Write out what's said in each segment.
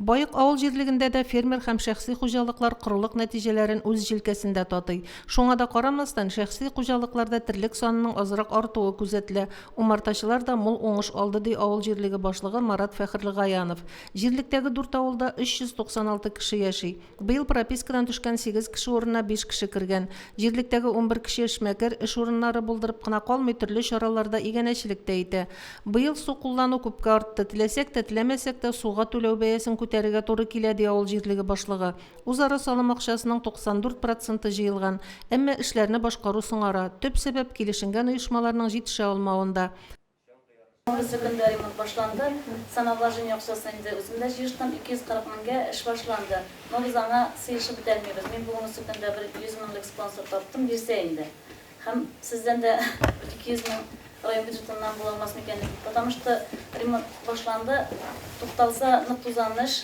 Баек авыл җирлегендә дә фермер һәм шәхси хуҗалыклар корылык нәтиҗәләрен үз җилкәсендә татый. Шуңа да карамастан, шәхси хуҗалыкларда терлек санының азрак артуы күзәтелә. Умартачылар да мул уңыш алды, ди авыл җирлеге башлыгы Марат Фәхерлегаянов. Җирлектәге дүрт авылда 396 кеше яши. Быел пропискадан төшкән сигез кеше урынына биш кеше кергән. Җирлектәге унбер кеше эшмәкәр, эш урыннары булдырып кына калмый, төрле чараларда, иганәчелек тә итә. Быел су куллану күпкә артты. Теләсәк тә, теләмәсәк тә, суга түләү бәясен күтәрергә туры килә, ди авыл җирлеге башлыгы. Үзара салым акчасының 94 проценты җыелган. Әмма эшләрне башкару соңара. Төп сәбәп, килешенгән оешмаларның җитешә алмавында. Барысы көнлә ремонт башланды. Самовар җен якчасын инде үзем дә җыештым, 240 меңгә эш башланды. Но без аңа сыешып бетәлмибез. Мин бүгенесе көндә бер 100 меңлек спонсор таптым, бирсә инде. Һәм сездән дә бер 200 мең район бюджетыннан була алмас микәнни? Потому что ремонт башланды, тукталса нык тузан эш.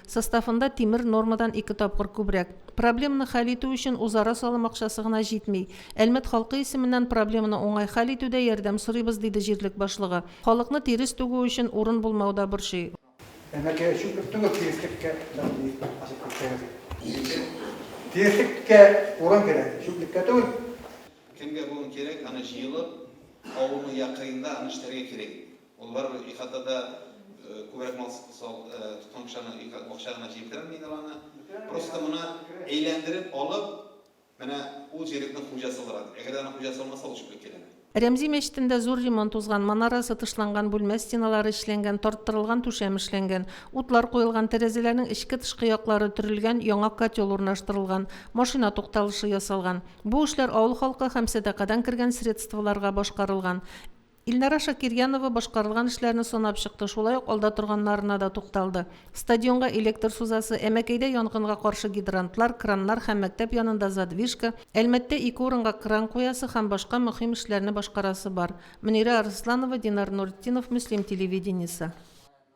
Составында тимер нормадан ике тапкыр күбрәк. Проблеманы хәл итү өчен узара салым акчасы гына җитми. Әлмәт халкы исеменнән проблеманы уңай хәл итүдә ярдәм сорыйбыз, диде җирлек башлыгы. Халыкны тирес түгү өчен урын булмау да борчый. Әмәкәй өчен бер тынгыр тиреслеккә мәгълүми ачып күрсәгез иде. Икенче тиреслеккә урын кирәк, чүплеккә түгел. Кемгә бүген кирәк, аны җыелып, авылның йә кырыенда аны эшләргә кирәк иде. Алар ихатада күбрәк мал тоткан кешеләрнең бакча гына җирдермидер аны. Просто моны әйләндереп алып, менә ул җирлекнең хуҗасы буларак. Әгәр дә аның хуҗасы булмаса, ул чүплек киләме? Рәмзи мәчетендә зур ремонт узган, манарасы тышланган, бүлмә стеналары эшләнгән, тарттырылган түшәм эшләнгән. Утлар куелган, тәрәзәләрнең эчке-тышкы яклары төрелгән, яңа котел урнаштырылган, машина тукталышы ясалган. Бу эшләр авыл халкы һәм сәдакадан кергән средстволарга башкарылган. Илнара Шакирьянова башкарылган эшләрне санап чыкты, шулай ук алда торганнарына да тукталды. Стадионга электр сузасы, Әмәкәйдә янгынга каршы гидрантлар, краннар һәм мәктәп янында задвижка, Әлмәттә ике урынга кран куясы һәм башка мөхим эшләрне башкарасы бар. Мөнирә Арысланова, Динар Нуретдинов, Мөслим телевидениесе.